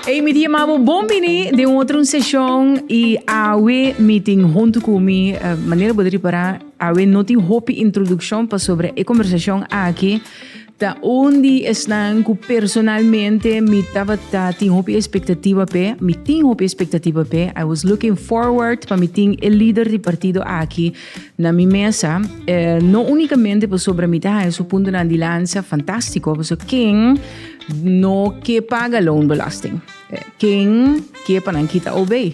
Hey, mi di amabo, bon bini den un otro un sesión y awe mi tin junto cu mi, eh, manera bo de reparar, awe no tin hopi introducción pasobra e conversación aki Ta un di esnan cu personalmente mi tabata tin hopi expectativa pe, mi tin hopi expectativa pe. I was looking forward pa mi tin e líder di partido aki na mi mesa. Eh, no únicamente pasobra mi ta haya su puntonan di lansa fantástico, pasobra ken no ke paga loonbelasting? Ken ke pa nan kita obe?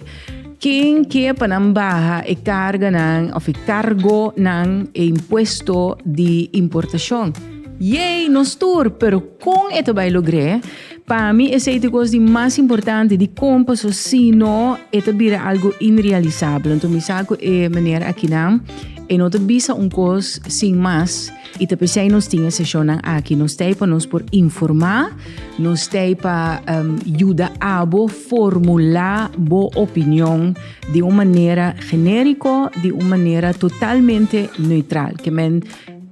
Ken ke pa nan baha e karganan of e kargonan, e impuesto di importashon? Yei, nos tur! Pero kon e ta bai logr'é? Pa mi esei ta e kos di mas importante di kon paso sino e ta bira algu inrealisabel. Anto mi sa ku e meneer akinan e no ta bisa un kos sin mas. Y ta pesey nos tin e sesionnan aki. Nos t'ey pa nos por informa, nos t'ey pa yuda abo formula bo opinion di un manera generico, di un manera totalmente neutral. Ke men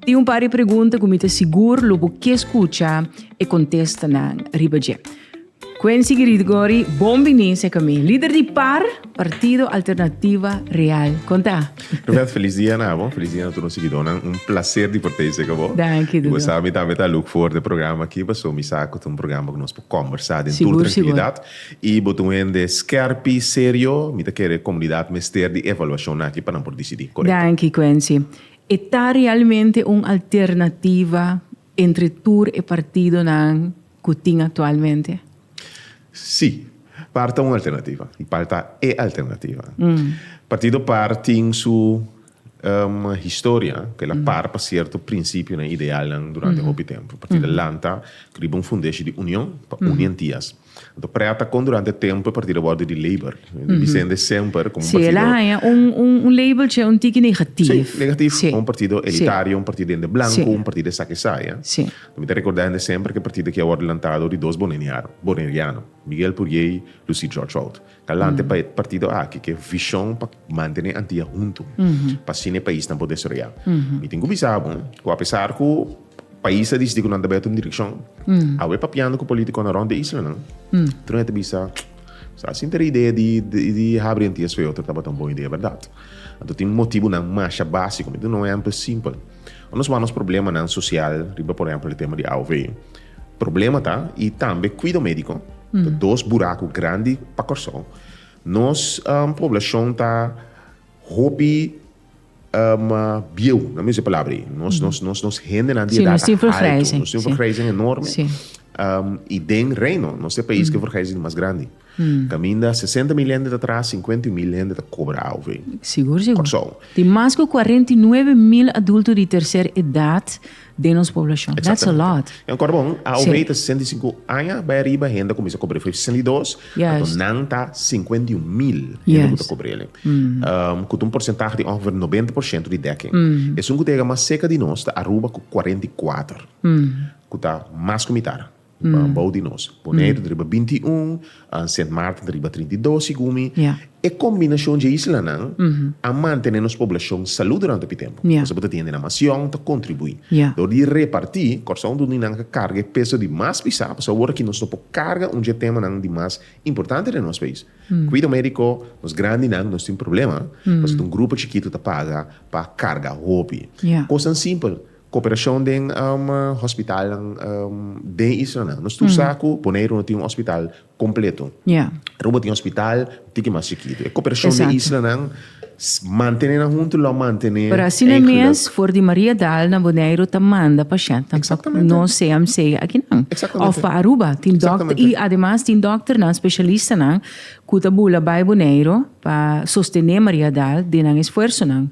tin un par di pregunta ku mi ta sigur lo bo ke skucha e kontestanan riba dje. Quency Gregory, bon bini seca mi. Lider di par, Partido Alternativa Real. Conta. Roberto, feliz dia na bo. Feliz dia na tur nos siguidornan. Un placer di por ta ey seca bo. Danki, Dodo. Y bo sabe, mi tambe ta look forward e programa aki, paso mi sa cu ta un programa cu nos por combersa den tur Sigur, sigur. tranquilidad. Y bo ta un hende scherp y serio. Mi ta kere comunidad mester di evaluacion nan aki pa nan por decidi corecto. Danki, Quency. E ta realmente un alternativa entre tur e partidonan cu tin actualmente? Sí. Par ta un alternativa y par ta e alternativa. Partido par tin su historia cu el a par pa cierto principionan y idealnan durante hopi tempo. Partido a lanta riba un fundeshi di union pa uni entias. Anto prea ta con durante tempo e partido a wordo di labor. Bisende semper como un partido. Sí, el a haña un labeltje un tiki negativo. Sí, negativo. Un partido elitario, un partido den de blanco, un partido esaki esai. Mi ta rekordá hende semper ku e partido aki a wòrdu lantado di dos boneniano, boneriano, Miguel Purier i Lucy Georgerold. Ta lanta pa e partido aki ku e vishon pa mantené Antia huntu, pa asina e pais nan por desaroyá. Mi tin ku bisa bo ku apesar ku pais a disití ku nan ta bai atu un direkshon, awe papiando ku polítikonan rònt e isla nan, tur hende ta bisa, Sa asin ta e idea di habri Antias Feoter tabata un bon idea, bèrdat? Anto tin motibunan masha básiko. Mi ta duna un ehèmpel simpel. Ora nos wak nos problemanan sosial riba por ehempel e tema di AOV, problema ta i tambe kuido médiko, ta dos buraku grandi pa Kòrsou. Nos poblashon ta hopi bieu, nan mi usa e palabra ei. Nos nos nos nos hendenan di edat altu, nos tin un vergrijzing enorme i den Reino nos ta e pais ku e vergrijzing mas grandi. Caminda sesenta mil hende ta traha, cincuenta y mil hende ta cobra AOV. Sigur, sigur. Corsou. Tin mas cu cuarenta y nuebe mil adulto di tercer edad den nos poblacion. That's a lot. Exactamente. Jan Corbon, AOV ta sesenta y cinco aña bai ariba, hende a cuminsa cobra AOV bai sesenta y dos, anto nan ta cincuenta y un mil hende cu ta cobra el'e. Cu ta un porcentahe di ongeveer noventa por ciento di dekking. Esun cu ta yega mas cerca di nos ta Aruba cu cuarenta y kuater, cu ta mas cu mitar. Nan bou di nos, Boneiru riba binti i un an, Sint Maarten riba trinta i dos sigumi. E kombinashon dje islanan a mantené nos poblashon salú durante hopi tempu. Kos bo ta tende na Masion ta kontribuí dor di repartí Kòrsou dor di nan ka karga e peso di mas pisá pasobra awor aki nos no por karga un dje temanan di mas importante den nos pais. Kuido médiko, nos grandinan nos tin problema pasobra ta un grupo chikitu ta paga pa karga hopi kosan simpel. Cooperacion den hospitalnan den islanan. Nos tur sa cu Boneiru no tin un hospital completo. Aruba tin hospital un tiki mas chikitu. E cooperacion den islanan mantene nan hunto lo a mantene. Pero asina mes for di Maria Dal na Boneiru ta manda pacientnan pa no CMC akinan. Of pa Aruba. Tin dokter y ademas tin dokternan specialistanan cu ta bula bay Boneiru pa sostene Maria Dal den nan esfuersonan.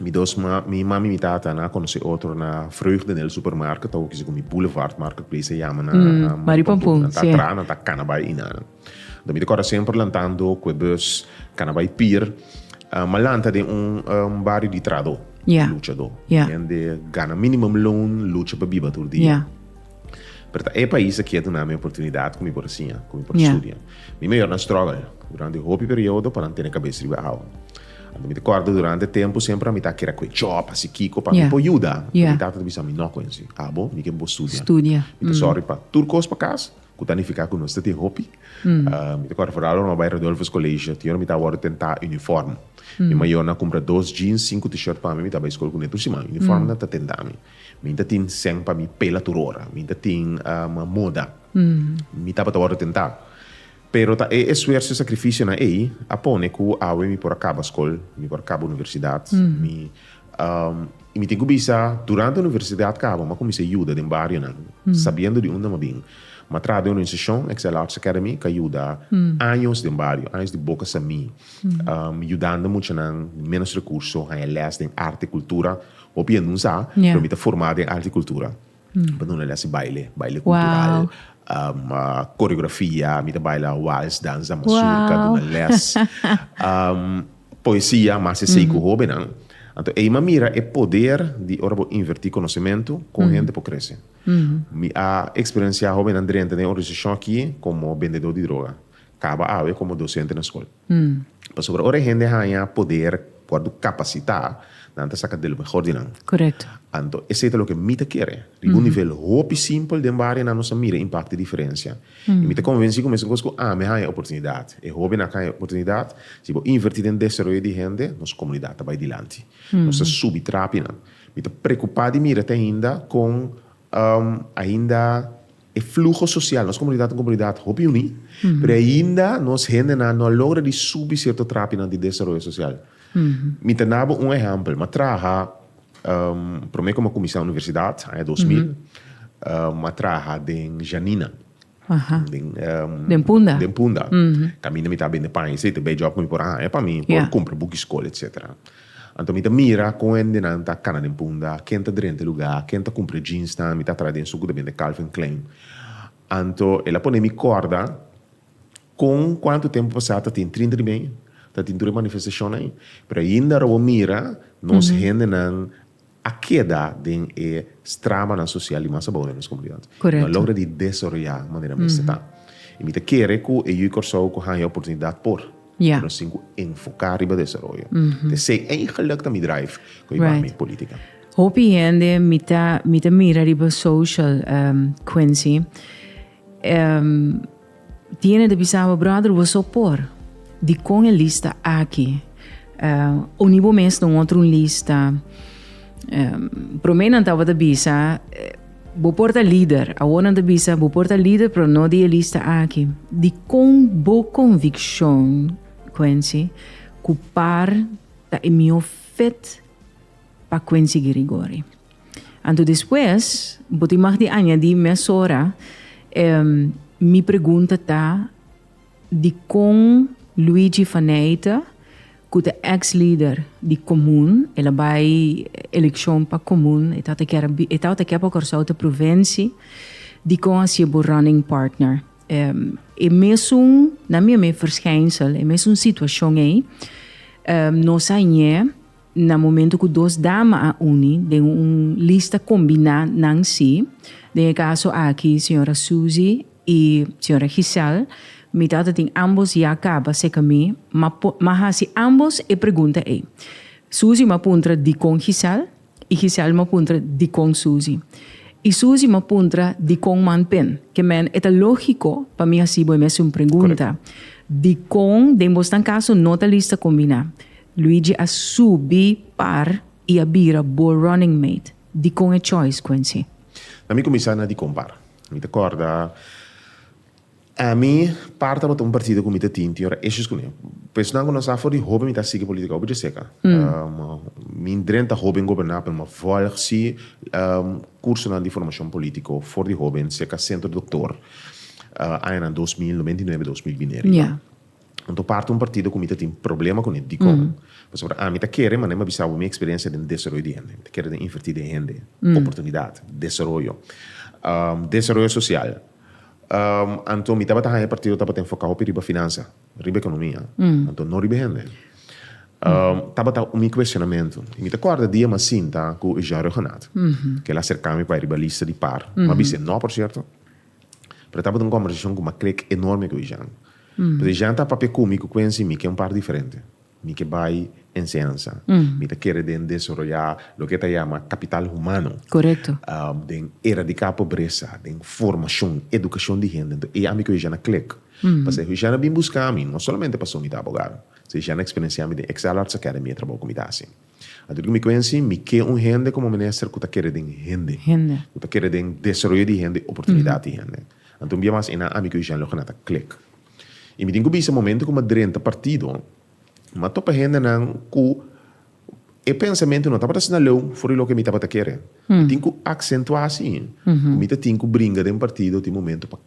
Mi dos ma, mi mami mi tata nan a conoce otro na Vreugde nel supermarket ta oki segun mi Boulevard Marketplace a yama na Mari Pampun nan ta tra nan ta cana bay inana do mi ta corda semper lantando cue bus cana bay pier ma lanta den un bario di trado lucha do hende gana minimum loan lucha pa biba tur dia. Pero ta e pais aki a duna mi oportunidad ku mi por a siña, ku mi por a studia. Mi mayor nan struggle durante hopi periodo pa nan tene kabes riba e awa. Anto mi ta kòrda durante tempu semper mi ta a kere ku e chòp, hasi kiko pa mi por yuda. Pero mi tata ta bisa mi, no Quincy, abo mi ke bo studia. Mi ta sòri pa tur kos pa kas ku ta nifiká ku nos ta tin hopi. Mi ta kòrda foral ora mi a bai Rodolfo's College, tin ora mi tabata tene ta uniform. Mi mayor nan kumpra dos jeans, sinku t-shirt pa mi, mi ta bai skol ku ne tur siman. Uniform nan ta tenda mi. Mi ta tin sèn pa mi pela tur ora. Mi ta tin moda. Mi tabata wòrdu tentá. Pero ta e esfuerso i sakrifisionan ei a pone ku awe mi por a kaba skol, mi por a kaba universidat. Mi i mi tin ku bisa, durante universidat kaba mi a kuminsá yuda den barionan, sabiendo di unda mi a bin. Mi a traha den un organizashon, Excel Arts Academy, ku a yuda años den bario, años di boka sa mi, yudando muchanan di ménos rekurso haña lès den arte, kultura Hopi hende no sa, pero mi ta forma den arte y cultura. Mi ta duna lesi baile, baile cultural, coreografia, mi ta baila wals, danza mazurka, duna les. Poesia, mas esey cu hobennan. Anto ey mi a mira e poder di ora bo inverti conocemento con hende por crece. Mi a experiencia hobennan drenta den organisashon aki como bendedor di droga. Caba awe como docente na school. Pasobra ora e hende haña poder wòrdu kapasitá, nan ta saka del mehor di nan. Anto esei ta loke mi ta kere. Riba un nivel hopi simpel den barionan nos a mira impakto i diferensia. I mi ta konvensí ku mesakos ku ami haña oportunidat, e hóbennan a haña oportunidat, si bo invertí den desaroyo di hende, nos komunidat ta bai dilanti. Nos ta subi trapinan. Mi ta prekupá di mira te ainda kon ainda. E fluho sosial, nos komunidat ta un komunidat hopi uní, pero ainda nos hendenan no a logra di subi sierto trapinan di desaroyo sosial. Mi ta na bo un ehèmpel. Mi a traha, promé ku mi a kuminsá universidat, aña dos mil, mi a traha den Janina. Den Punda? Den Punda. Kaminda mi tabata bende paña i esei, te be jòb ku mi por haña pa mi, mi por kumpra buki skol, etsetera. Anto mi ta mira kon hendenan ta kana den punda, ken ta drenta e lugá, ken ta kumpra e jeansnan mi ta traha den su ku ta bende Calvin Klein. Anto el a pone mi kòrda kon kuantu tempu pasá ta tin trinta di mei, ta tin tur e manifestashon ei, pero ainda a robó mira nos hendenan. a keda den e stramanan sosial di mas abou den nos komunidat. Mi no a logra di desaroyá manera mester ta. I mi ta kere ku e yu Kòrsou ku haña oportunidat por ku nos tin ku enfoká riba desaroyo. Te esei eigenlik ta mi drive ku a yubá mi polítika. Hopi hende mi ta mi ta mira riba social, Quincy, Tiene di bisa awa brother boso por di con e lista aki uh, uni bo mes na un otro un lista um, prome nan tabata bisa uh, bo porta líder awo nan ta bisa bo porta líder pero no di e lista aki di con bo conviccion Quincy cu par ta e mio fit Pa kunsigi rigor ei. Anto despues bo tin mag di añadi mesora e mi pregunta ta di kon Luigi Faneite ku ta ex lider di komun, el a bai elekshon pa komun, e tabata kier e tabata kier pa Kòrsou ta provensi, di kon a sier bo running partner. E mesun, nan mi a mi, verschijnsel, e mesun situashon ei nos a ñe. Na momento cu dos dama a uni den un lista combina nan si, den e caso aki Sra. Suzy y Sra. Giselle, mi tata tin ambos ya caba seca mi, ma ma haci ambos e pregunta ey. Suzy ma puntra dicon Giselle y Giselle ma puntra dicon Suzy. Y Suzy ma puntra dicon man tin, que men e ta logico pa mi haci bo e mesun pregunta, dicon den bos nan caso no ta lista combina? Luigi a subi par y a bira bo running mate. Dicon e choice, Quincy? Na mi cuminsa na dicon par. Mi ta corda Amy par tabata un partido cu mi ta tin, tin ora issues cu mi. Pues nan cu nos ta for di hoben mi ta sigui politica un bidje seca. Mi dren ta hoben goberna pero mi volg si cursonan di formacion politico for di hoben seca centro doctor añanan dos mil, noventa y nuebe, dos mil bineri. Anto parti un partido ku mi ta tin problema ku ne. Dikon? Pasobra ami ta kere, manan mi a bisa bo mi eksperensia den desaroyo di hende. Mi ta kere den invertí den hende, oportunidat, desaroyo, desaroyo sosial. Anto mi tabata haña e partido ku tabata enfocá hopi riba finansa, riba ekonomia, anto no riba hende. Tabata mi kueshonamentu. Mi ta kòrda dia mi a sinta ku Eugène Reugenat, ku el a serká mi pa e riba lista di par. Mi a bisa e nò, por sierto, pero tabata un kòmbersashon ku mi a krek enorme ku Eugène. Pasobra Jean ta papia cu mi cu Quency, mi ke un part diferente. Mi ke bay enseñansa. Mi ta kere den desoroya loke ta yama capital humano. Corecto. Den eradica pobresa, den formacion, educacion di hende. Enton e ami cu Hushana click. Pasobra Hushana bin busca mi, no solamente pasobra mi ta abogado. Hushana experiencia mi den Excel Arts Academy e trabou cu mi ta haci. Anto di ku mi kuinsi, mi ke un hende komo minister ku ta kere den hende. Hende. Ku ta kere den desaroyo di hende, oportunidat di hende. Anto un bia mas enan ami ku Eugène lo kena ta klik. I mi tin ku bisa momento ku mi a drenta partido, mi a topa hendenan ku e pensamentu no tabata asina leu for di loke mi tabata kere. Mi tin ku aksentuá si ku mi ta tin ku bringa den partido tin momento pa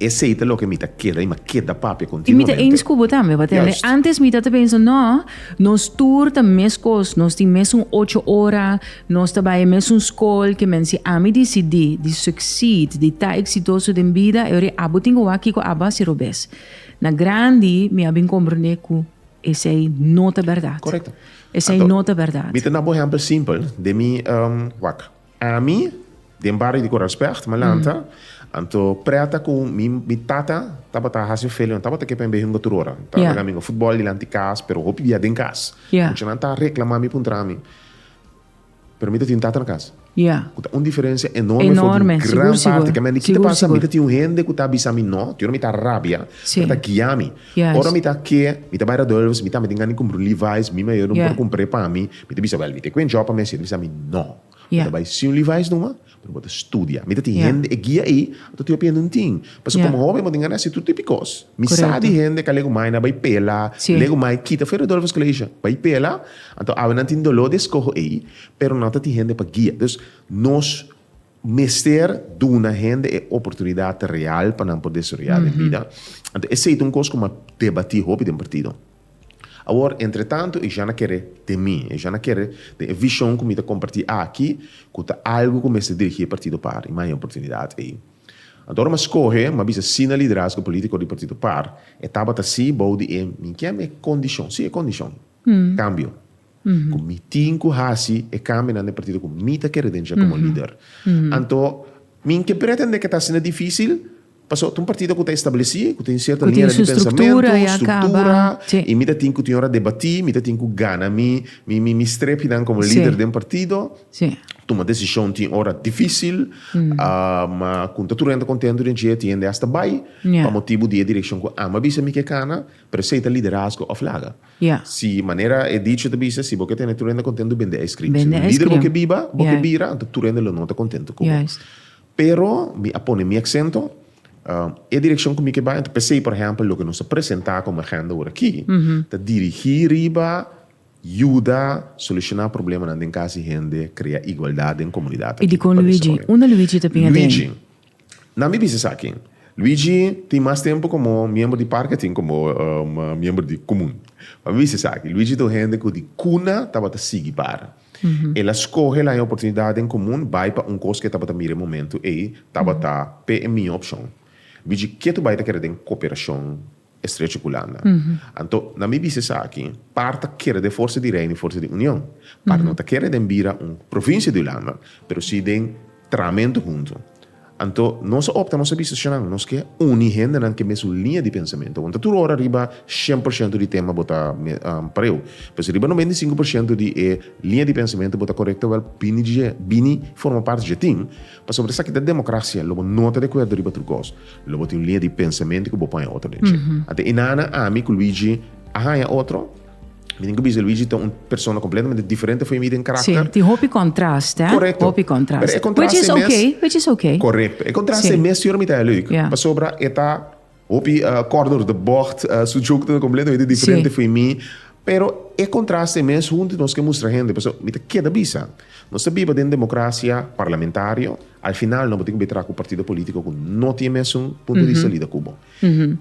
Esei ta loke mi ta keda i mi a keda papia kontinuamente. I mi ta eens ku bo tambe, pa tende? Antes mi ta ta pensa, no, nos tur ta meskos, nos tin mesun ocho ora, nos ta bai e mesun skol, ke men si ami disidí di succeed, di ta eksitoso den bida, e ora abo tin ku wak kiko abo hasi robes. Na grandi mi a bin komprondé ku esei no ta bèrdat. Korekto. Esei no ta bèrdat. Mi ta na bo ehèmpel simpel den mi wak. Ami, den bario di Coralsberg, malanta, anto prèta ku mi mi tata tabata hasi un felion, tabata ke pa mi b'e hunga tur ora. Ta laga mi hunga futbòl dilanti kas, pero hopi dia den kas. Muchanan ta reklamá mi puntra ami, pero mi ta tin un tata na kas, ku ta un diferensia enorme for di un gran parti. Kamba mi a kito pasa, mi ta tin un hende ku ta bisa mi nò, te ora mi ta rabia, pero ta guia mi. Ora mi ta ke, mi ta bai Rodulfus, mi tambe tin gana di kumpra un Levi's, mi mayor no por kumpra e pa mi, mi ta bisa, wèl, mi te ku e djòb pa mi hasi, e ta bisa mi, no, bo ta bai sin un Levi's numa, pero bo ta studia. Mi ta tin hende, e guia ei, a totoi a pende un tin, pasobra komo hoben bo tin gana di hasi tur tip di kos. Mi sa di hende ku a legu mai na bai pela, legu mai kita fu e Rodulfus Colegio, bai pela, anto awe nan tin doló di eskoho ei, pero nan ta tin hende pa guia. Dus, nos Mester duna hende e oportunidat real pa nan por desaroyá den bida. Anto esei ta un kos ku a debatí hopi den partido. Awor, entretanto, e jana kere den mi, e jana kere den e vishon ku mi ta kompartí aki, ku ta algu ku mester dirigí e partido par i maya oportunidat ei. Anto ora mi a skohe, mi a bisa sí na liderazgo polítiko di partido par, e tabata sí bou di e, mi kier mi e kondishon, sí e kondishon, kambio. Ku mi tin ku hasi e kambinan den partido ku mi ta kere den dje komo lider. Anto mi ke pretendé ke ta asina difisil, pasobra ta un partido ku ta establesí, ku tin sierto linea di pensamentu, struktura, i mi ta tin ku tin ora debatí, mi ta tin ku gana mi mi strepnan komo lider den partido. Tuma desishon tin ora difisil, ma ku no ta tur hende kontentu den dje, tin hende asta bai pa motibu di e direkshon ku ama bisa mi ke kana, pero esei ta liderazgo òf laga? Si manera e dicho ta bisa, si bo ke tene tur hende kontentu, bende ice cream. Si lider bo ke biba, bo ke bira, anto tur hende lo no ta kontentu ku bo. Pero mi a pone mi aksento, e direkshon ku mi ke bai, anto p'esei por ehèmpel loke nos a presentá komo agenda ora aki, ta dirigí riba yuda solushoná problemanan den kas di hende, krea igualdat den komunidat aki. Luigi, unda Luigi ta bin aden? Luigi, Na mi bisa esaki. Luigi tin mas tempu komo miembro di parke asin komo miembro di komun. Pa mi bisa esaki. Luigi ta un hende ku di kuna tabata sigui para. El a skohe laña oportunidat den komun bai pa un kos ku e tabata mira e momentu ei tabata pe e miho opshon. Luigi ke tu bai ta kere den koperashon Estrecho ku landa. Anto, na mi bista esaki, par ta kere den forsa di Reino i forsa di Union. Par no ta kere den bira un provinsia di Hulanda, pero si den tramentu huntu. Anto, nos a opta, nos a bista, Shannan, nos ke uni hendenan ke mesun liña di pensamentu. Awor no ta tur ora riba shen por shento di tema bo ta pareu, pero si riba noventa i sinku por shento di e liña di pensamentu bo ta korekto, wèl, bini dje, bini forma parti dje tin. Pasobra esaki ta democracia, lo bo no ta de acuerdo riba otro cos, lo bo tin un linea di pensamiento cu bo paña otro den dje. Ante Inanna, ami cu Luigi a haña otro, mi tin cu bisa Luigi ta un persona completamente diferente fo'i mi den caracter. Si, tin hopi contrast, eh? Correcto. Hopi contrast. Pero e contrast e mes. Which is okay, which is okay. Correcto. E contrast e mes si ora mi ta haña leuk. Yeah. Pasobra e ta. Hopi corner de bocht, su joke ta completamente diferente fo'i mi, pero e contraste mes hunti nos ke mustra hende, paso mi ta keda bisa, nos ta biba den democracia parlamentario, al final no bo tin ku be traha ku partido politico ku no tin e mesun punto de vista lida ku bo.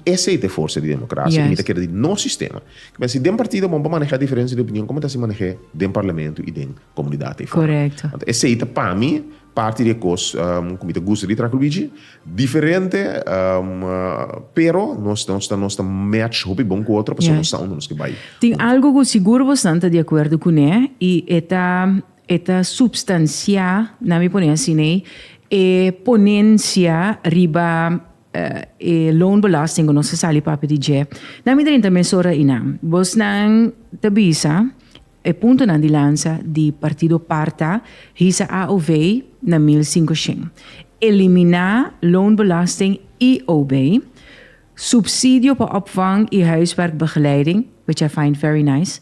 Esei ta e forsa di democracia i mi ta keda di nos sistema. Ku mester si den partido bo bo maneha diferencia di opinion, komo ta hasi manehe den parlamento i den komunidat ei fora? Esei ta pa mi. Parti di e kos ku mi ta gusta di Trakel Bichi, diferente pero nos ta nos ta match hopi bon ku otro pasobra nos sa unda nos ke bai. Tin algu ku sigur bosnan ta di akuerdo kuné i e ta e ta supstansiá, nan mi pone asina ei, e ponensia riba e loonbelasting ku nos ta sali papia di dje. Nan mi ta renta mesora einan. Bosnan ta bisa E puntonan di lansa di partido Parta hisa AOV na mil singoshen. Eliminá loonbelasting IOB, subsidio pa opvang i huiswerkbegeleiding, which I find very nice,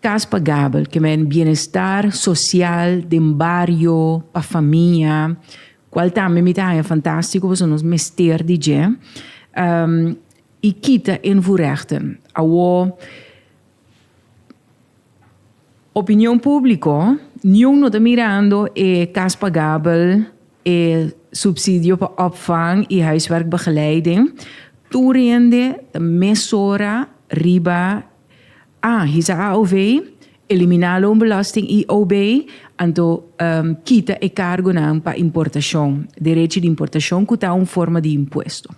kas pagabel, ke men bienestar sosial den bario pa famia, kual tambe mi ta haña fantástiko pasobra nos mester di dje, i kita invoerechten. Awor Opinion públiko, niun no ta mirando e kas pagabel, e supsidio pa òpvang i huiswerkbegeleiding. Tur rende ta mesora riba a hisa AOW, eliminá loonbelasting IOB, anto kita e kargunan pa importashon, derechi di importashon ku ta un forma di impuesto.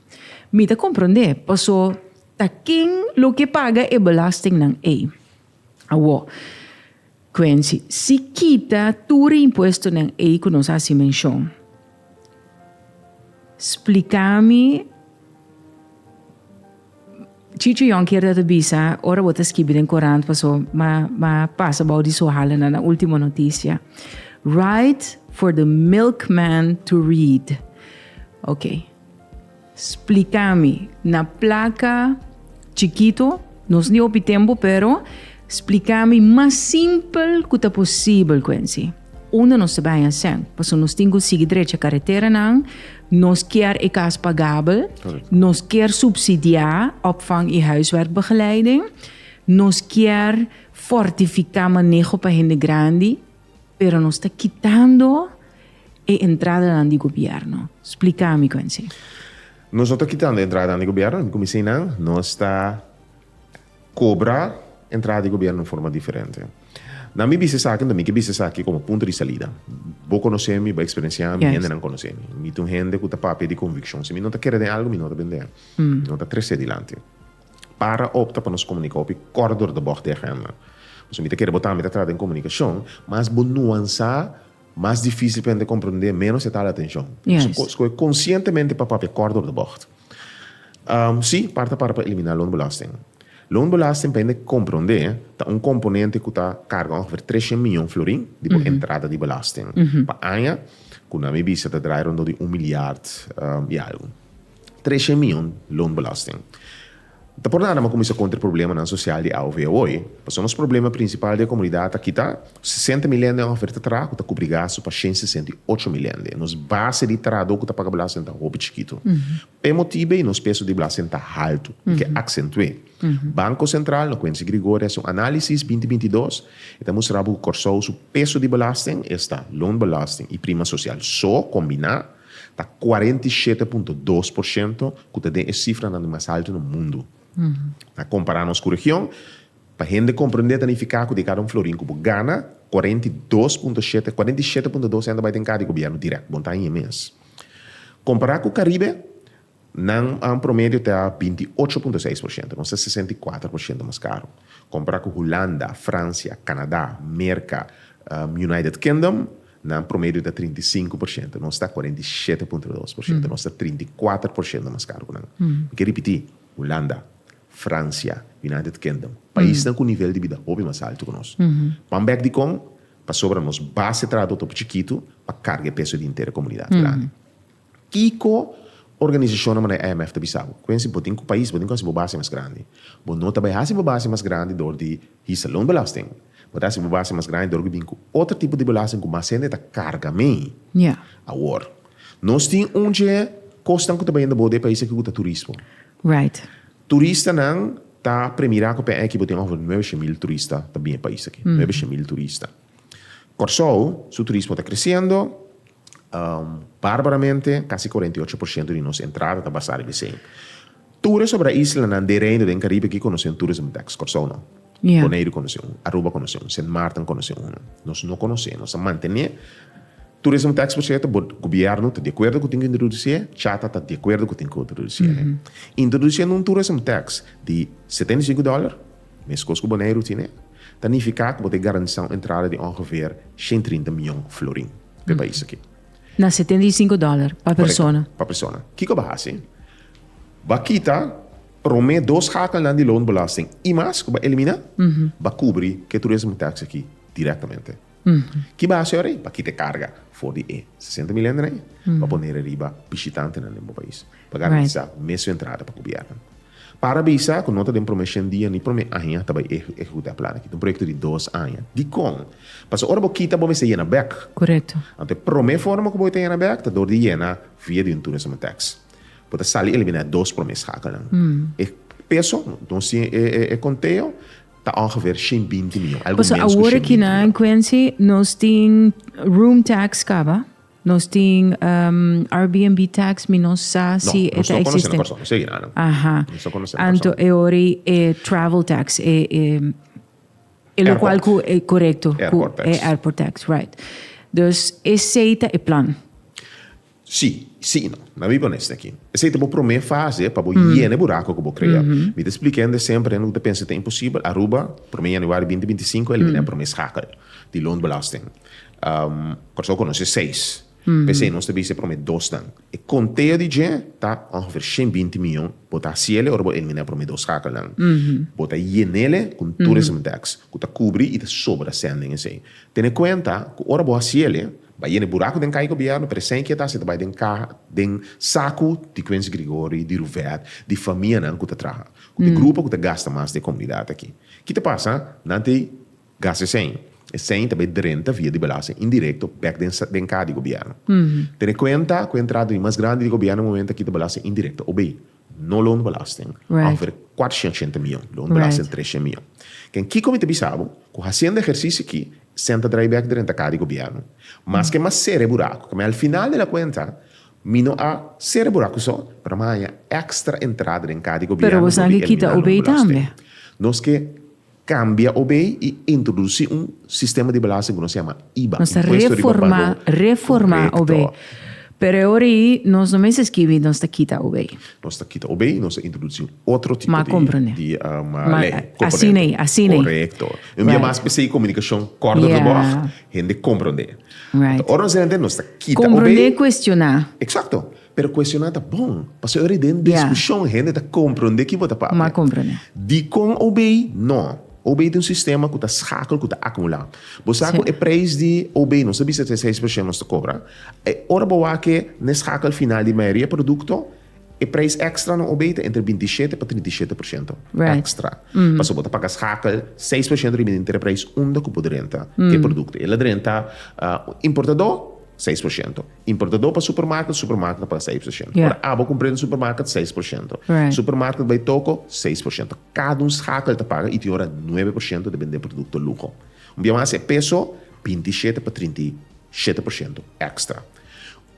Mi ta komprondé paso Ta kin lo ke paga e belastingnan ei? Awor, Quency, si kita tur e impuestonan ei ku nos a hasi menshon, splika mi Chicho Jonker ta ta bisa ora bo ta skibi den korant paso ma ma pasa bou di su hala na na ultimo notisia. Write for the milkman to read. Ok. Splica mi, na placa chikito, nos ni hopi tempo pero splica mi mas simpel cu ta posibel Quency, unda nos ta bay a sen, paso nos tin cu sigui drecha caretera nan, nos kier e cas pagabel, nos kier subsidia opvang y huiswerkbegeleiding, nos kier fortifica maneho pa hende grandi. Pero nos ta kitando e entradanan di gobièrnu. Splika mi, Quincy. Nos no ta kitando e entradanan di gobièrnu. Mi ku mi sinan, nos ta kobra entrada di gobièrnu den forma diferente. Na mi bisa esaki, mi ke bisa esaki komo punto di salida. Bo konosé mi, bo eksperensiá mi, hendenan konosé mi. Mi ta un hende ku ta papia di konvikshon. Si mi no ta kere den algu, mi no ta bend'é. Mi no ta tres'é dilanti. Para opta pa nos komunika hopi kort dor ta bòg di agenda. Pasobra mi ta kere bo tambe ta trata den komunikashon, mas bo nuansá, mas difísil pa hende komprondé, ménos e ta ala atenshon. Pasobra skohe konsientemente pa papia kort dor ta bòg. Sí, part ta para pa eliminá loonbelasting. Loonbelasting, pa hende komprondé, ta un komponente ku ta karga ongeveer tres shen miyon florin di bo entrada di belasting. Pa aña, ku nan mi bisa ta drai rondó di un milyard i algu. Treshe mion loonbelasting. Ta por nada m'a kuminsá kontra e problemanan sosial di AOV awor. Pasobra nos problema prinsipal di e komunidat akí ta, sesenta mil hende un oferta traha ku ta kubri gastu pa shen sesenta i ocho mil hende. Nos base di trahadó ku ta paga belasting ta hopi chikitu. Pa e motibu ei nos peso di belasting ta haltu i ke aksentu'é. Banko Sentral, no kuenta di Gregori, hasi un análisis binti binti i dos, e ta mustra bo ku Kòrsou su peso di belasting esta loonbelasting i prima sosial so kombiná. Ta cuarenta i shete punto dos por shento cu ta den e cifranan di mas alto na mundo. Na compara nos cu region, pa hende comprende ta nifica cu di cada un florin cu bo gana, cuarenta i dos punto shete, cuarenta i shete punto dos cento bay den cada di gobierno direct, bo no ta haña mes. Compara cu Caribe, Nan a un promedio te a binti ocho punto seis por shento, nos ta sesenta i kuater por shento mas karo, kompará ku Hulanda, Fransia, Kanadá, Merka, United Kingdom, nan promedio ta trinta i sinku por shento, nos ta kuarenta i shete punto dos por shento, nos ta trinta i kuater por shento mas karo ku nan. Mi ke ripití, Hulanda, Fransia, United Kingdom, paisnan ku nivel di bida hopi mas altu ku nos. Pan bèk dikon? Pasobra nos base trado ta hopi chikitu pa karga e peso di henter e komunidat grandi. Kiko organisashonnan manera di IMF ta bisa bo? Quincy, bo tin ku pais, bo tin ku hasi bo base mas grandi. Bo no ta bai hasi bo base mas grandi dor di hisa loonbelasting. Bo ta hasi bo base mas grandi dor ku bin ku otro tipo di belasting ku mas hende ta karga mi. Awor, nos tin un dje kosnan ku ta bai unda bo den e pais aki ku ta turismo. Turistanan ta premirá ku PNI aki bo tin ongever nuebe she mil turista ta bin e pais aki. Nuebe she mil turista. Kòrsou su turismo ta kresiendo. Barbaramente, kasi cuarenta y ocho por ciento di nos entrada ta basá riba esei. Tur e sobra islanan di e Reino den Caribe aki conoce un tur esei muta ex. Corsou no. Boneiru conoce un. Aruba conoce un. Sint Maarten conoce un. Nos no conoce. Nos a mantené tur esei muta ex por cierto bo gobierno ta di acuerdo cu tin cu introducié, Chata ta di acuerdo cu tin cu introducié. Introduciendo un tur esei muta ex di setenta y cinco dólar. Meskos ku Boneiru tine, ta nifiká ku bo ta garantisá un entrada di ongefeer shen trinta mion florin p'e pais akí. Na setenta i sinku dòler pa persona. Korekto, pa persona. Kiko bo a hasi? Bo a kita promé dos hakalnan di loonbelasting i mas ku bo a eliminá, bo a kubri ke tur esei un tèks akí direktamente. Ki base ora ei? Pa kita e karga for di e sesenta mil hende ei, pa pone e riba bishitantenan den bo pais, pa garantisá mes su entrada pa gobièrnunan. Para bisa ku no ta den promé shen dia ni promé aña ta bai ehekutá e plannan. Kit un proyekto di dos aña. Dikon? Pasobra ora bo kita bo mester yena bèk. Korekto. Anto e promé forma ku bo ta yena bèk ta dor di yena via di un turismo tèks. Bo ta sali eliminá e dos promé skakelnan. E peso, entonces tin e konteo, Ta ongeveer shin binti mion. Algun mens ku shin binti mion. Paso awor aki na Quincy nos tin room tax kaba, nos tin Airbnb tax mi no sa si e ta eksistente. No, nos no konosé na Kòrsou. Nos segi na nan. Aha. Nos no konosé na Kòrsou. Anto e ori e travel tax, e lokual ku e korekto. Airport. Airport tax. Airport tax, right. Dus esei ta e plan. Sí, sí i no. Na bi pon'e esaki. Esei ta bo promé fase pa bo yena e burako ku bo krea. Mi ta splika hende semper, hende ku ta pensa ta imposibel, Aruba, promé yanüari binti binti sinku a eliminá e promé skakel di loonbelasting. Kòrsou konosé seis. P'esei nos ta bisa e promé dosnan. E konte'o di dje ta ongefeer shen binti mion. Bo ta hasiele ora bo eliminá e promé dos skakelnan. Bo ta yenele ku un tourism tax ku ta kubri i ta sobra sèn den esei. Tene kuenta ku ora bo hasiele. Bay'en e buraku den kai gobièrnu, presenkia ta hasi ta bai den kaha, den saku di Quincy Grigori, di Ruvet, di famianan ku ta traha ku te grupo ku ta gasta mas di e komunidat aki. Ki ta pasa? Nan ta gasta esei. Esei ta bai drenta via di belasting indirekto bèk den den kaha di gobièrnu. Tene kuenta ku entrada di mas grandi di gobièrnu momente aki ta belasting indirekto, obei. No loonbelasting offer cuatrocientos y ochenta mion, loonbelasting trescientos mion. Can Kiko mi ta bisa bo cu haciendo ehercicio aki senta draaiback di renta car di gobierno. Maske mas cera e buraco ca mi al final de la cuenta mi no a cera e buraco so, pero mi a haña extra entrada den car di gobierno por di elimina loonbelasting. Nos ke. Cambia o bay y introduci un sistema di belasting cu nos yama iba, Nos ta impuesto riba reforma, balor. reforma o Correcto. bay. Pero e ora yi nos no mester skibi nos ta kita o bay. Nos ta kita o bay y nos ta introduci un otro tipo Ma di, comprende. di um, Ma, ley, a- componente. asina yi, asina yi. Correcto. Un bia Right. mas p'esey e comunicacion corto Yeah. tabog, hende comprende. Right. Ora nos hende nos ta kita o bay. Comprende, cuestiona. Exacto. Pero cuestioná ta bon, pasobra ora i den discusion hende ta comprende ki bo ta papia. Dicon obey? No. Obey ta un sistema cu ta schakel, cu ta acumula. Bo sa cu e prijs di obey, nos ta bisa ta e seis procent nos ta cobra, ora bo wak-e na e schakel final di mayoria producto, e prijs extra na obey ta entre binti shete pa trinta i shete procento extra. Pasobra bo ta paga schakel seis procent riba di entre e prijs unda cu bo drenta e producto. El a drenta importador seis procento. Importadó pa supermarket, supermarket a paga seis por shento. Ora abo cumpr'é den supermarket, seis por shento. Supermarket bai toco, seis por shento. Cada un schakel ta paga y tin ora nuebe por shento ta bend'é producto lujo. Un bia mas e peso, binti i shete pa trinta i shete por shento extra.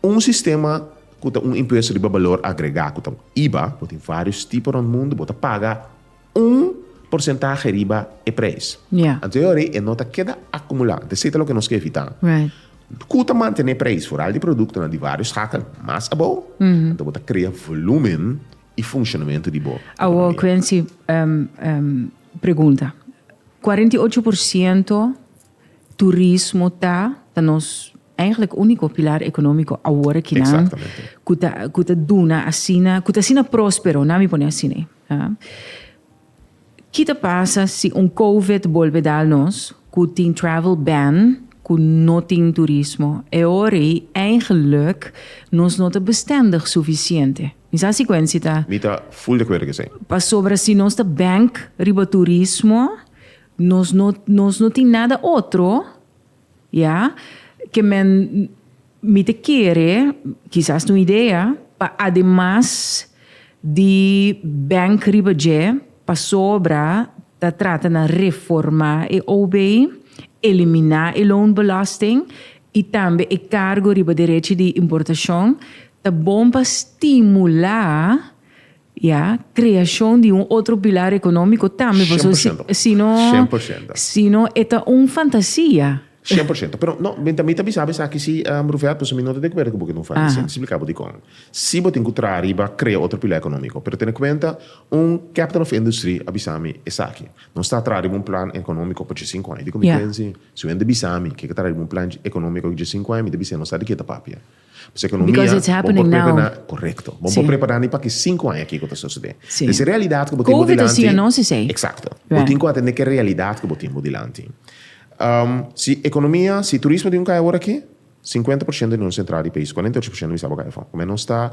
Un sistema cu ta un impuesto riba balor agregá cu ta iba, bo tin varios tipo rond mundo, bo ta paga. un porsentahe riba e preis. Anteriori e no ta keda akumulá. Anto esei ta loke nos ke evitá. Ku ta mantené preis foral di produktonan di vários skakel mas abou, anto bo ta krea volúmen i funshonamentu di bo ekonomia. Awo Quency, pregunta, kuarenta i ocho por siento Turismo ta ta nos eigenlijk unico pilar economico awor kinan. Exactamente. Cu ta cu ta duna asina, cu ta asina prospero, na mi pone asine. Ha? Ki ta pasa si un COVID bolbe dal nos, cu tin travel ban, cu no tin turismo? E ora ei eigenlijk nos no ta bestendig suficiente. Mi sa si Quency ta. Mi ta full de acuerdo cu esey. Pasobra si nos ta bank riba turismo, Nos no nos no tin nada otro, ya, ke men mi ta kere, kisas ta un idea, pa ademas di bank riba dje, pasobra ta trata na reformá e OB, eliminá e loonbelasting i tambe e kargo riba derechi di importashon, ta bon pa stimulá Ya, creashon di un otro pilar economico tambe, pasobra si, 100%. si no, 100%. si no e ta un fantasia. 100%. Pero no, mi ta, mi ta bisa bo esaki si, um, Ruffert, pasobra mi no ta de acuerdo cu bo cu e ta un fantasia. Mi Aha. splica bo dicon. Si bo tin cu traha riba crea otro pilar economico, pero tene cuenta, un captain of industry a bisa mi esaki, nos ta traha riba un plan economico pa dje cinco aña. Dicon mi Ya. pensi, si wen ta bisa mi cu e ta traha riba un plan economico dje cinco aña, mi ta bisa nos sa di ke ta papia. Pasobra ekonomia bo por prepará korekto. Bo por prepará ni pa ki sinku aña kiko ta sosodé. Des e realidat ku bo tin bo dilanti. Eksakto. Bo tin ku atendé ku e realidat ku bo tin bo dilanti. Si ekonomia, si turismo tin ku kai awor aki, sinkuenta por shento di nos entrada di pais, kuarenta i ocho por shento misa bo kai afó. Kume nos ta.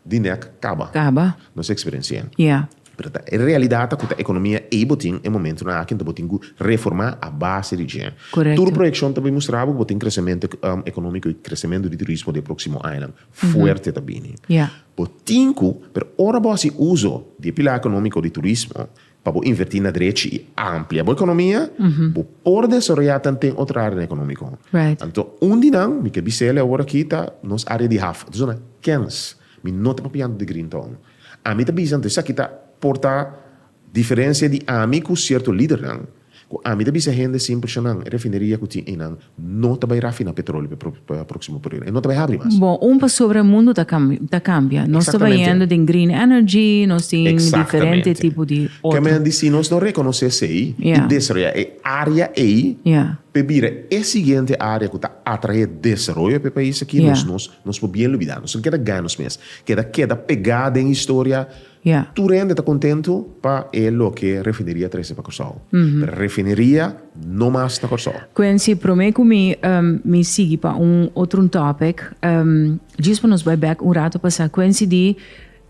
di nek kaba. Kaba. Nos eksperensi'é. Ya. Pero ta e realidatnan ku ta ekonomia ei bo tin e momentunan aki enton bo tin ku reformá a base di dje. Korekto. Tur proyekshon ta bin mustrá bo ku bo tin kresementu ekonomiko i kresementu di turismo di e próksimo añanan fuerte ta bini. Ya. Bo tin ku, pero ora bo hasi uso di e pilar ekonomiko di turismo Pa bo invertí na drechi i amplia bo ekonomia, bo por desaroyá ta n'ten otro área na ekonómiko. Anto un di nan, mi ke bis'é el e awor akí, ta nos área di haf. Anto zona kèns. Mi no ta papiando di Green Town. Ami ta bisa anto esaki ta por ta diferensia di ami ku sierto lidernan. Ku ami ta bisa hende sin purshanan, e refineria ku tin einan no ta bai rafiná petrolio pa próksimo periodo. E no ta bai habri mas. Bon, un pasobra mundo ta ta kambia. Nos ta bai yendo den green energy, nos tin diferente tipo di otro. Ke men a di si nos no rekonosé esei i desaroyá e área ei p'e bira e siguiente área ku ta atraé desaroyo p'e pais aki, nos nos por bien lubidá. Nos no keda gana nos mes. Keda keda pegá den historia. Ya. Tur hende ta kontentu pa e loke refineria trese pa Kòrsou. Pero refineria no mas na Kòrsou. Quincy, promé ku mi mi sigui pa un otro un topic, djis pa nos bai bèk un rato pasá Quincy di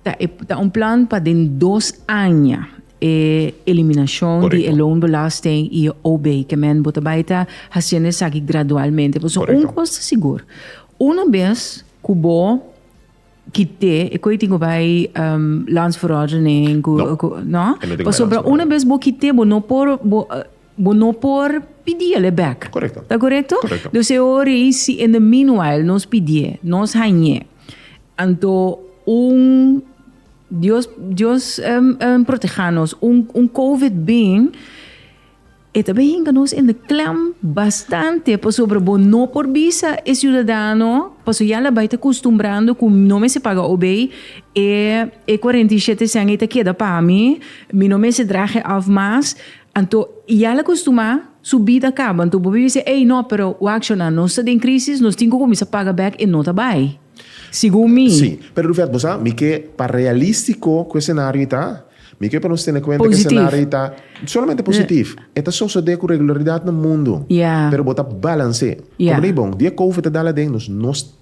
ta e ta un plan pa den dos aña e eliminashon di e loonbelasting i e ob ke men bo ta bai ta hasiendo esaki gradualmente. Pasobra un kos ta sigur, una bes ku bo. Kité e koe tin ku bai lans verordening ku ku no pasobra una bes bo kité bo no por bo bo no por pidi el'e bèk ta korekto dus e ora ei si in the meanwhile nos pidié nos hañ'é anto un dios dios proteha nos un covid bin E ta bay hinca nos in de klem bastante pasobra bo no por bisa e ciudadano paso ya la bay ta custumbrando cu no mester paga obey e e cuarenta y shete cent ey ta keda pa mi, mi no mester drage af mas, anto ya la custuma su bida caba anto bo bay bisa ey no pero wacshona nos ta den crisis nos tin cu cuminsa paga bek y no ta bay segun mi. Sí, pero Rufert bo sa mi ke pa realístico cu e scenario ta Mi ke pa nos tene kuenta ku e senario ta solamente positif. E ta sosodé ku regularidat na mundu, pero bo ta balans'é. Komo lei bon, di e Covid ta dal aden nos, nos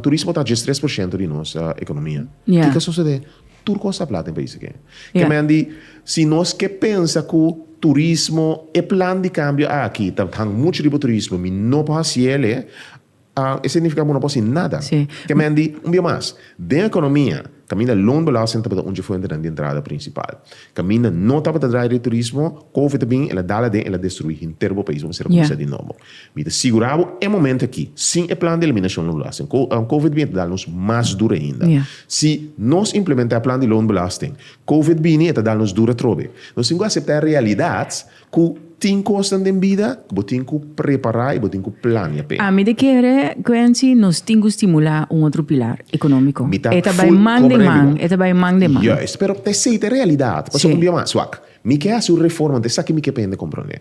turismo ta adjes tres por shento di nos ekonomia. Kiko a sosodé? Tur kos ta hab plata den pais aki. Ke men di, si nos ke pensa ku turismo, e plan di kambio aki ta hang muchu riba turismo, mi no por hasiel e, A E significa bo no por haci nada. Ke men di, un bia mas, den economia, caminda loonbelasting tabata un dje fuentenan di entrada principal. Caminda no tabata draai di turismo, Covid a bin, el a dala den, el a destruí henter bo pais. Bo mester a cuminsá di nobo. Mi ta sigurá bo e momento aki, sin e plan di eliminacion di loonbelasting, Co Covid a bin, e ta dal nos mas duro ainda. Si nos implementá e plan di loonbelasting, Covid bini, e ta dal nos duro atrobe. Nos tin cu aceptá e realidad. Cu tin cosnan den bida cu bo tin cu prepara y bo tin cu plania p'e. Ami ta kere, Quency, nos tin cu stimula un otro pilar, economico. Mi ta E ta bai full man den comprende man, bo. e ta bai man den man. Juist, pero ta esey ta e realidad. Paso un Si. bia mas, wak, mi ke haci un reforma, ta esaki mi ke pende comprende.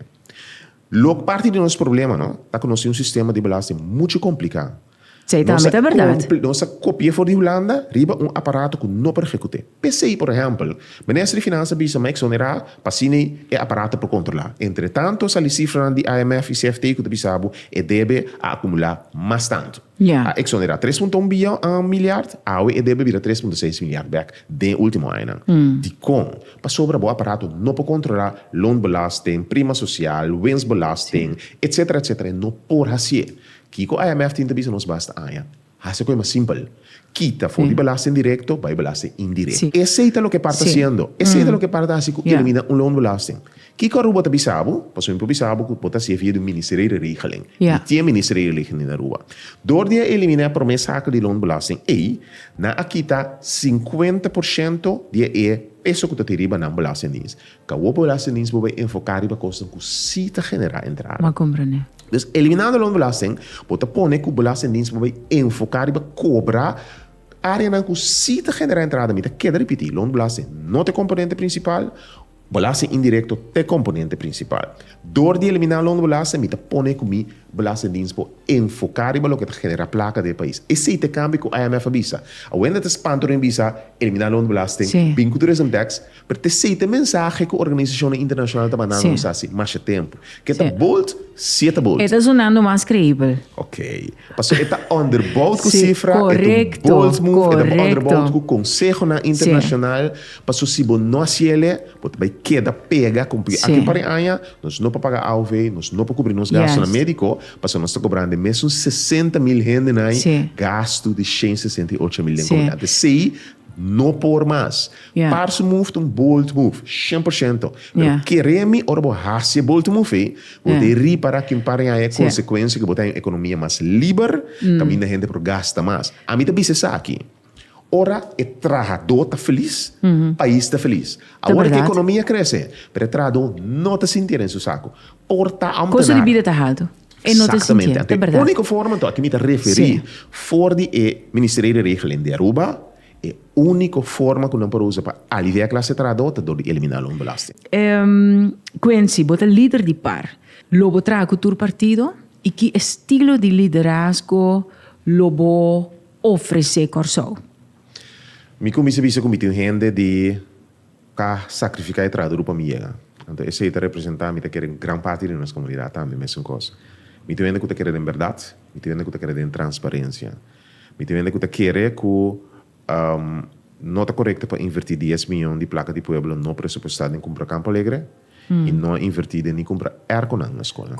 Lo parti di nos problema, no, ta cu nos tin un sistema di belasting mucho complica. Esei tambe ta berdad. Nos a kopia for di Hulanda riba un aparato ku no por ehekut'é. P'esei, por ehèmpel, Minister di Finansa bisa mi a eksonerá pa asina e aparato por kontrolá. Entretanto, a sali sifranan di IMF i CFT ku ta bisa bo e debe a akumulá mas tantu. A eksonerá tres punto un biyon miliard, awe e debe bira tres punto seis miliard bèk den e último añanan. Dikon? Pasobra bo aparato no por kontrolá loonbelasting, prima sosial, winstbelasting, etsetera, etsetera. E no por hasié. Kiko IMF tin ta bisa nos basta aña? Hasi kue mas simpel. Kita for di belasting directo, bai belasting indirecto. Esey ta loke par ta haciendo. Esey ta loke par ta haci cu elimina un loonbelasting. Kiko Aruba ta bisa bo? Pasobra mi por bisa bo cu bo ta haci e via di un Ministerio di Regeling. Mi tin e Ministerio di Regeling na Aruba. Door di a elimina e prome sakel di loonbelasting ey, nan a kita cincuenta por ciento di e peso cu ta tin riba nan belastingdiens. Ka bo por hasi nin si bo bai enfoká riba kosnan ku sí ta generá entrada. Dus eliminando los belasten, bo ta pone ku bo la hasi nin si bo bai enfoká riba kobrá áreanan ku sí ta generá entrada. Mi ta keda ripití, los belasten no ta e komponente prinsipal, belasten indirekto ta e komponente prinsipal. Dor di eliminá los belasten mi ta pone ku mi belasten nin si bo enfoká riba loke ta generá plaka den e pais. Esei ta e kambio ku IMF a bisa. Awor e ta spanta orin a bisa eliminá los belasten, bin ku tourism tax. Pero ta esey ta e mensahe cu organisacionnan internacional ta mandando nos haci masha tempo. Ke ta bold, siye ta bold. E ta sunando mas creibel. Ok. Pasobra e ta underbout cu cifra, e ta un bold move, e ta underbout cu consehonan internacional, pasobra si bo no haci el'e, bo ta bay keda pega con porque aki un par di aña nos no por paga AOV, nos no por cubri nos gastonan medico, pasobra nos ta cobrando e mesun sesenta mil hendenan gasto di shen sesenta y ocho mil den comunidad. Esey no por mas. Parse move ta un bold move, shen por shento. Pero kere mi ora bo hasi e bold move ei, bo ta ripara kin para yaña e konsekuensia ku bo ta haña un ekonomia mas liber, kaminda hende por gasta mas. Ami ta bisa esaki, ora e trahadó ta felis, pais ta felis. Awor ku e ekonomia krese, pero e trahadó no ta sintié den su saku. Por ta ambtenar. Exactamente. Anto e úniko forma anto, aki mi ta referí for di e Ministerio di Regeling di Aruba E úniko forma ku nan por usa pa aliviá e klas di trahadó ta dor di eliminá loonbelasting. Quincy, bo ta lider di par. Lo bo traha ku tur partido i ki estilo di liderazgo lo bo ofresé Kòrsou? Mi kuminsá bisa ku mi tin hende di ka sakrifiká e trahadudu pa mi yega. Anto esei ta representá mi ta kere un gran parti di nos komunidat tambe. Mesun kos, mi tin hende ku ta kere den bèrdat, mi tin hende ku ta kere den transparensia. Mi tin hende ku ta kere ku no ta korekto pa invertí dies mion di plaka di pueblo no presupuestá den kumpra Campo Alegre i no a invertí den ni kumpra èrkonan na skolnan.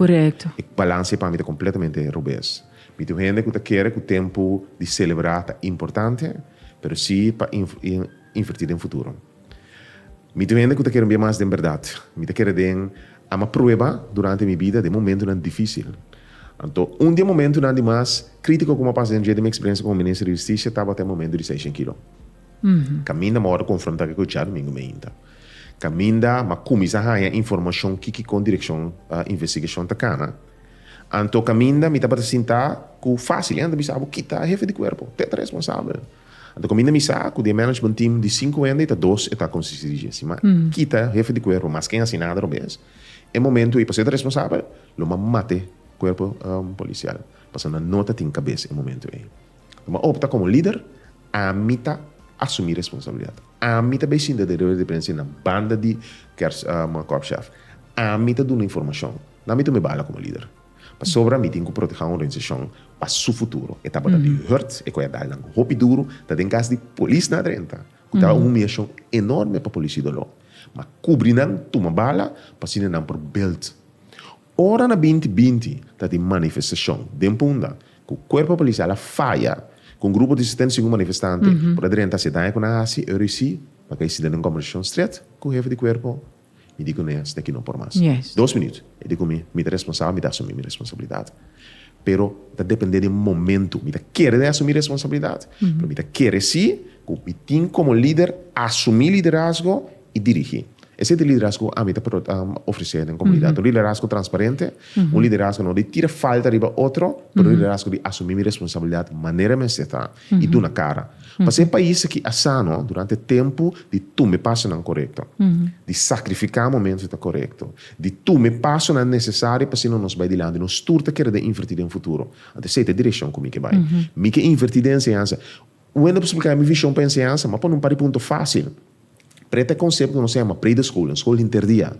E balans ei pa mi ta kompletamente rubes. Mi tin hende ku ta kere ku tempu di selebrá ta importante, pero si pa invertí den futuro. Mi tin hende ku ta kere mbia mas den bèrdat. Mi ta kere den ama prueba durante mi bida den momentunan difísil. Anto, un di e momentunan di mas krítiko ku mi a pasa den dje di mi eksperensia komo minister di hustisia tabata e momentu di Seishen Kilo. Kaminda mi a wòrdu konfrontá ku e kuchá dumingu meinta. Kaminda mi a kuminsá haña informashon kikikon direkshon investigashon ta kana. Anto, kaminda mi tabata sintá ku fásil. E anda bisa, Bo kita hefe di kuerpo. Te ta responsabel. Anto kaminda mi sa ku di e management team di sinku hende ta dos e ta konsisti di Jesse. Ma kita hefe di kuerpo, maske e hasi nada robes, e momentu ei pasobra e ta responsabel, lo ma mate kuerpo polisial pasobra nan no ta tin kabes e momentu ei. Lo ma opta komo lider, ami ta asumí responsabilidat. Ami ta bai sinta den reunia di prensa na banda di Kòrsjef. Ami ta duna informashon. Nan mi ta un bala komo lider. Pasobra mi tin ku protehá un organisashon pa su futuro. E tabata di hùrt, e koyadal nan hopi duru ta den kas di polis na drenta, ku ta un humiashon enòrme pa polisí doló. Ma kubri nan, tuma bala, pa asina nan por bèlt. Ora na binti binti ta tin manifestashon den Punda ku kuerpo polisial a faya, ku un grupo di setenta i sinku manifestante por a drenta hasi daña ku nan hasi, Eurisi, pa kai sida den kòversashon strèt ku hefe di kuerpo. Mi di ku Nea, Steki no por mas. Dos minüt. E di ku mi, Mi ta responsabel, mi ta asumí mi responsabilidat. Pero ta dependé di momentu. Mi ta kere di asumí responsabilidat, pero mi ta kere sí ku mi tin komo lider asumí liderazgo i dirigí. Esei ta e liderazgo ku ami ta ofresé den komunidat. Un liderazgo transparente, un liderazgo no di tira falta riba otro, pero un liderazgo di asumí mi responsabilidat manera mester ta. i duna kara pa se pais aki a sano durante tempu di tume pasonan korekto, di sakrifiká momentu ta korekto, di tume pasonan nesesario pa sino nos bai dilanti, nos tur ta keda invertí den futuro. Anto esei ta e direkshon ku mi ke bai. Mi ke invertí den enseñansa. Wende por spliká mi vishon pa enseñansa, ma pa un par di punto fásil. Pre ta e concepto nos yama pre de school, un school hinterdia.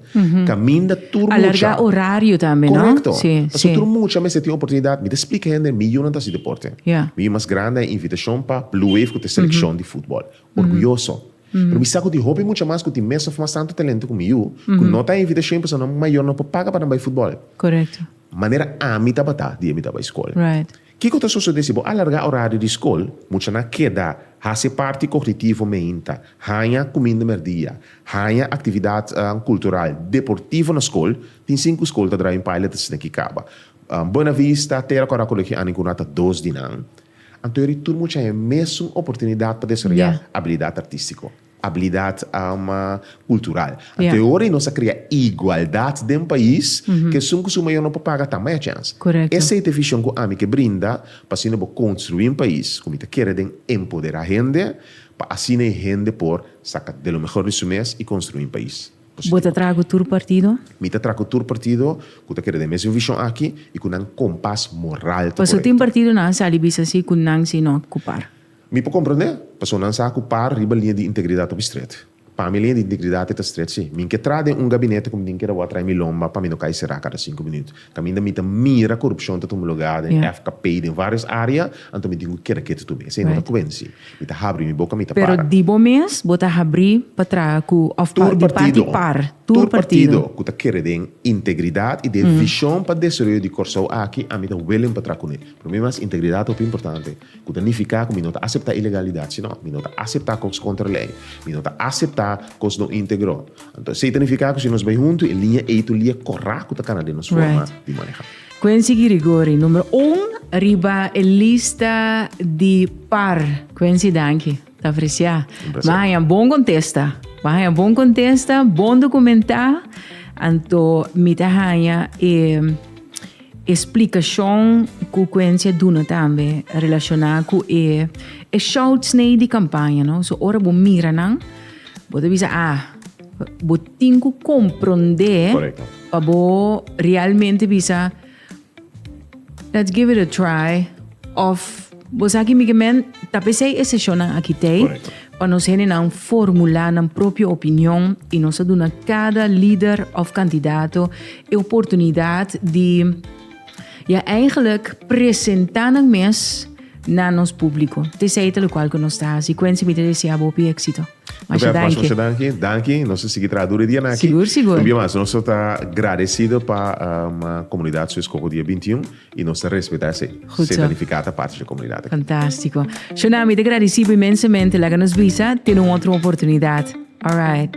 Caminda tur mucha. Alarga horario tambe, no? Correcto. Si, si. Pasobra tur mucha mester tin oportunidad. Mi ta splica hende, mi yunan ta haci deporte. Ya. Mi yu mas grandi a invitacion pa Blue Wave cu ta e seleccion di futbol. Orguyoso. Pero mi sa cu tin hopi mucha mas cu tin mes of mas tanto talento cu mi yu, cu no ta e invitacion pasobra nan mayornan por paga pa nan bay futbol. Correcto. Manera ami tabata di e mi ta bay school. Right. Kiko ta sosodé si bo alargá orario di skol? Muchanan a keda hasi e parti kognitivo meinta, haña kuminda merdia, haña aktividatnan kultural, deportivo na skol, tin sin ku skol ta draaia un paila ta sina ki kaba. Buenavista, Tera Kòrá Kolegio Annie Guna ta dos di nan. Anto yori tur mucha haña e mesun oportunidat pa desarrollá abilidat artístiko. Abilidat ama kultural. Anto e ora ei nos a krea igualdat den pais, ke esun ku su mayor no por paga ta maya chèns. Esei ta e vishon ku ami ke brinda pa asina bo konstruí un pais ku mi ta kere den empoderá hende pa asina e hende por saka de lo mehor di su mes i konstruí un pais positivo. Bo ta traha ku tur partido? Mi ta traha ku tur partido ku ta kere den mesun vishon aki i ku nan kompas moral ta korekto. Paso tin partidonan a sali bisa si ku nan si no kupar. Mi por comprende, personanan sa cu par riba línea di integridad hopi stret. Pa mi línea di integridad e ta stret sí. Min ke tra den un gabinete cu mindien keda wou a trae mi lomba pa mi no cay sera cada cinco minut. Caminda mi ta mira corupcion ta tuma lugar den FKP y den varios área, anto mi tin cu keda ketu tumbe. Esey no ta cuenci. Mi ta habri mi boca, mi ta para. Pero di bo mes bo ta habri pa traha cu of pa di parti par. Tur partido cu ta kere den integridad y den vision pa desaroyo di Corsou aki, ami ta willing pa traha cune. Promi mas integridad hopi importante. Ku ta nifiká ku mi no ta aseptá ilegalidat sino, mi no ta aseptá kos kontra lei, mi no ta aseptá kos no íntegro. Anto esei ta nifiká ku si nos bai huntu e liña ei tur lia kòrá ku ta kana den nos forma di manehá. Quency Girigory, numero un riba e lista di par. Quency, danki. Ta apreciá. Bo haña bon contesta. Bo haña bon contesta, bon documentá. Anto mi ta haña e explicacion cu Quentia duna tambe relacioná cu e shouts n'ey di campaña, no. So ora bo mira nan, bo ta bisa, ah, bo tin cu comprende pa bo realmente bisa. Let's give it a try of Bo sa ki mi ke men ta pesei e seshonnan aki tei Correcto. pa nos hendenan formulá nan propio opinion i nos a duna kada lider of kandidato e oportunidat di ya eigenlijk presentá nan mes na nos públiko. Te sei te lokual ku nos ta hasi. Quency, mi ta desea bo hopi éksito. Nos bèt mas masha danki. Danki. Nos ta sigui traha duru e dia na aki. Un bia mas nos ta gradesido pa komunidat su eskoho dia binti un i nos ta respetá esei. Seta nifiká ta parti di e komunidat aki. Fantástiko. Shona, mi ta gradesí bo inmensamente. Laga nos bisa tene un otro oportunidat. Alright.